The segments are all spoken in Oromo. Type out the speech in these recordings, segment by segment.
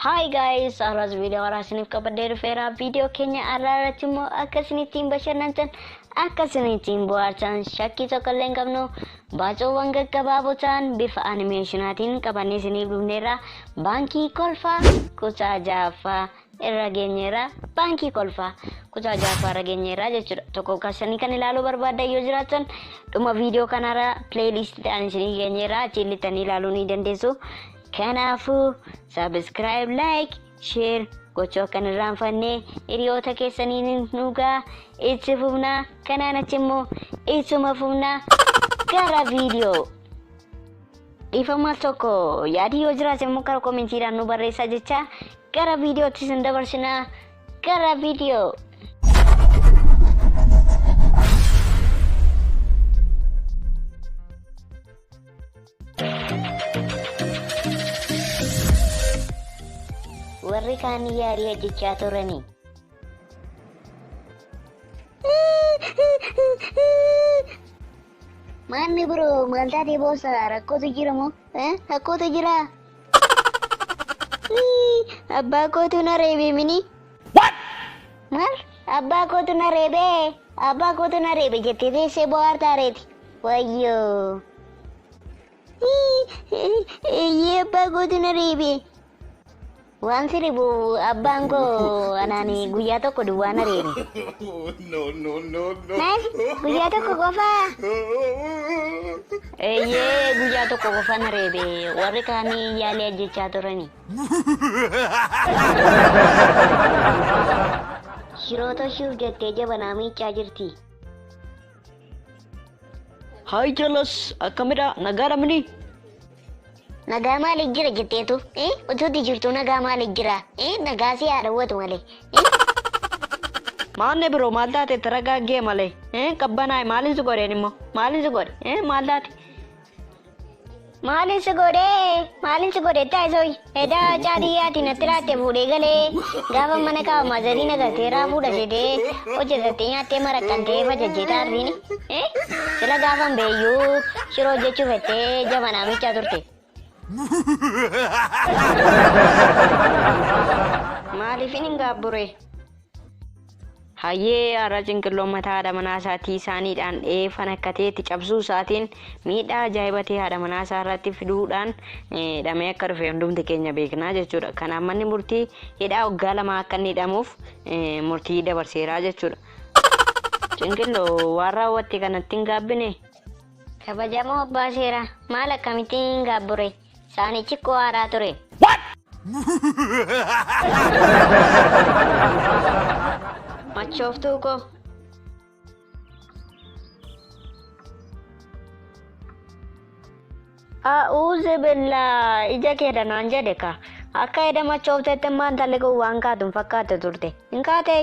Hi guys, har'as viidiyoo haaraa isiniif qabadhee dhufeera. Viidiyoo keenya har'aa irratti immoo akka isin ittiin bashannantan, akka isin ittiin bohaartan shakkii tokko illee hin qabnu. Baacoowwan gaggabaaboo ta'an bifa animeeshinaatiin qabannee isiniif dhufneerra. Baankii Kolfaa kutaa ja'affaa irra geenyeerra. Baankii Kolfaa kutaa ja'affaa irra geenyeerra jechuudha. Tokko kassanii kan ilaaluu barbaaddan yoo jiraatan dhuma viidiyoo kanarra pileeyiliistii ta'an isiniif geenyeerra achiin lixxanii ilaaluu ni dandeessu. Kanaafuu sabiskiraayib laayik Share gochuu akka hin irraanfanne hiriyoota keessaniin dhugaa itti fufnaa kanaan achi immoo ittuma fufnaa gara viidiyoo. Dhiifama tokko yaadi yoo jiraate immoo karaa koomentiidhaan nu barreessaa jecha gara viidiyootti isin dabarsinaa gara viidiyoo. Warri kaan yaalii hojjechaa turanii. Maanni biroo maal taatee boossa rakkootu jira moo? Rakkootu jira. Abbaa kootu na reebee mini. Maal? Abbaa kootu na reebe, abbaa kootu na reebe jettee teessee bohaartaa reeti. Wayyoo. Eeyyee abbaa kootu na reebe. Waan si ribu abbaan koo anaan guyyaa tokko duwwaa na reebe. Maal? Guyyaa tokko qofaa? Eeyyee guyyaa tokko qofa na reebe. Warri kaanii yaalii ajjechaa turani. Shiroo toshuuf jettee jabanaa miiccaa jirti. Haay jalas akkamidha nagaadha mini. Nagaa maali jira jetteetu? Eh? Utuutti jirtu nagaa maali jira? Eh? Nagaa si haa dhawwatu malee. Eh? Maanne biroo maal taate taragaaggee malee. Eh? Qabbanaa'e maaliin si godheen immoo? Maaliin si godhe? Eh? Maal taate? Maalin si godhee? Maalin si godhe taasoi? Edaa caadiyyaati natti laatte fuudhee galee gaafa mana kaa'u maazarii nagatee irraa fuudha jedhee hojjetattee nyaattee maraqqantee fajajjee taarriini. Sila gaafan beeyyuu shiroo hojjechuu fettee jabanaa miichaa turte. Maaliifin hin gaabburee? Hayyee har'a cinqilloon mataa haadha manaa isaatii saaniidhaan dha'ee fanakkatee itti cabsuu isaatiin miidhaa ajaa'iba ta'e haadha manaa isaa irratti fiduudhaan eh, dhamee akka dhufe hundumti keenya beeknaa jechuudha. Kanaaf manni murtii hidhaa waggaa lamaa akka inni hidhamuuf eh, murtii dabarseeraa jechuudha. Cinqilloo waan raawwatte kanatti hin gaabbine. Kabajamoo abbaa seeraa maal akkamittiin hin gaabburee? Saanichi koo haaraa ture. Machooftuu koo. A'uuzi billaa ija kee danaan jedhe ka. Akka eda machooftetti maan talli kun waan kaatun fakkaate turte. Hin kaatee?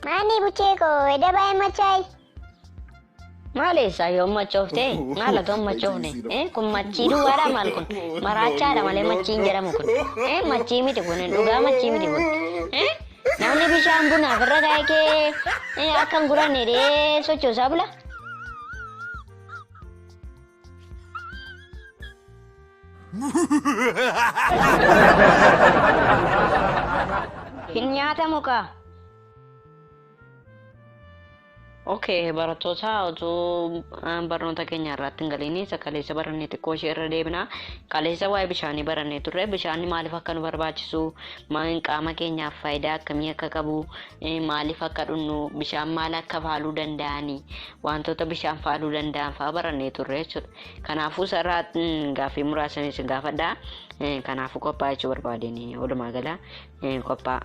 Maanii buchee koo eda baay'ee machaa'e. Maal eessaa yoom machooftee? Maal atoon machoofne? Eh, Kun machii duwwaadha maal kun? Maraachaadha malee machii hin jedhamu kun. Eh, Machii miti kun dhugaa machii miti kun. Eh, Namni bishaan bunaaf irra kaa'e kee eh, akka hin guranne dee sochoosaa bula. Hin nyaatamu kaa. Okay, barattoota utuu aan barnoota keenya irratti hin galiin kaleessa barannee xiqqoo ishee irra deebina. Kaleessa waa'ee bishaanii barannee turre. Bishaanni maaliif akka nu barbaachisu, ma- qaama keenyaaf faayidaa akkamii akka qabu, eh, maaliif akka dhugnu, bishaan maal akka faaluu danda'ani, wantoota bishaan faaluu danda'an fa'aa barannee turre jechuudha. Kanaafuu sarara mm, gaaffii muraasaniis gaafadha. Eh, Kanaafuu qophaa'aa jechuu barbaadeen walumaa gala eh, qophaa'aa.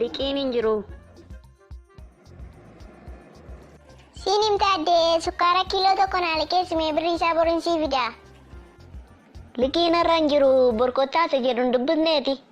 Liqiin hin jiru. Siin himta addee sukkaara kiiloo tokko naa liqeessi mee birrii isaa boriin sii fidaa. Liqiin har'a hin jiru borkottaa isa jedhu hin dubbifneeti.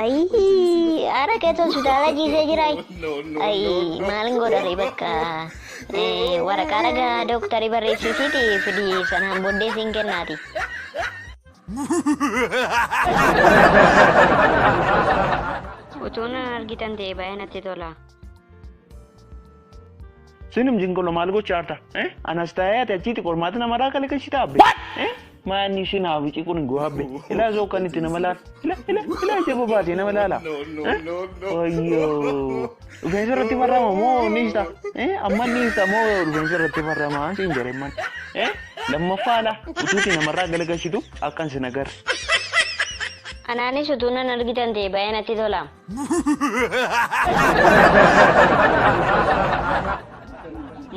Ayii ara keetu hospitaala ciisee jira. Ayii maalin godhare bakka eh, waraqaa ragaa dooktarii barreessisiiti fidi sanaan booddee siin kennaati. Utuun argitan ta'e baay'ee natti tola. Sinum jinqolo maal gocha harta? Eh? Anas taa'ee ati achiiti qormaata nama irraa kale kashi taabbe. Eh? Maanni ishiin haa wicii kun hin gohabbe. Ilaa zoo kan itti nama laala. Ila ila ila ija bobaatee nama laala. Eh? Wayyoo. Rufeensa irratti barrama moo ni hista? Eh? Amma ni hista moo rufeensa irratti barrama siin jedhe man. Eh? Lammaffaa ala utuuti namarraa galagalchitu akkan sin agarre. Anaanis utuu nan argitan ta'e baay'ee natti tola.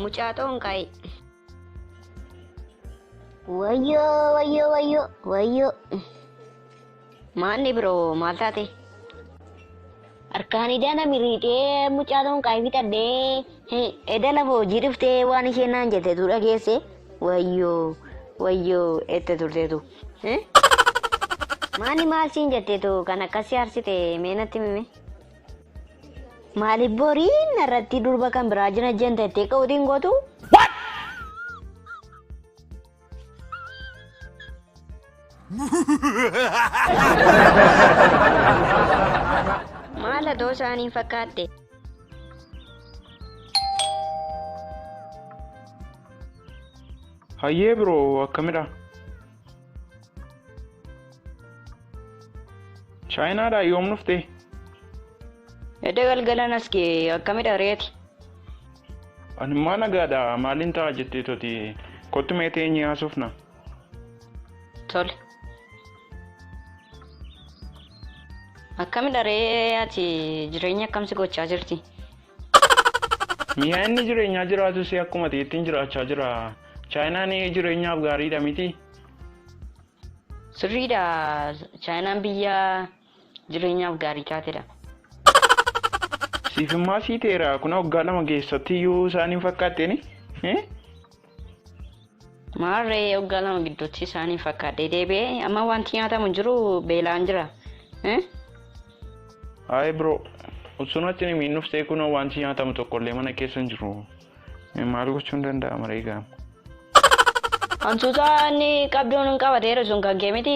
Mucaa xoonqaa'e. Wayyoo wayyoo wayyoo wayyoo. Maanni biroo maal taate? Harkaan ijaa na miriidhee mucaa xoonqaa'e bitadhee. Eda lafa hojii dhuftee waan isheen naan jette tu dhageesse. Wayyoo wayyoo ette turteetu. Maani maal siin jetteetu kan akkasii harsite mee natti mime. Maaliif boriin irratti durba kan biraa jina jeen teettee qawutiin gootu? Maal atoo isaaniin fakkaatte? Hayyee bro akkamidha? Chaayinaadhaa yoom dhufte? Edda galgalan as ga'e akkamidha reeti? Ani immoo nagaadha maaliin ta'a jettee toti kottu mee teenyee haasofna. Tole. Akkamidha ree ati jireenya akkamsi gochaa jirti? Mi'a inni jireenyaa jiraatus akkuma ta'ettiin jiraachaa jira. Chaayinaan jireenyaaf gaariidha miti. Sirriidha. Chaayinaan biyya jireenyaaf gaarii taatedha. Siif immaa sii ta'eera. Kun waggaa lama keessatti iyyuu isaan hin fakkaatteeni. Maarree waggaa lama gidduutti isaaniin fakkaadhee deebi'ee amma wanti nyaatamu jiru beelaan jira. Eh? Haay bro, osoo natti hin himiin dhuftee kunoo wanti nyaatamu tokkollee mana keessa hin jiru. Eh, Maal gochuun danda'ama reegaa? Hantuuta inni qabduun qabateera sun kan kee miti.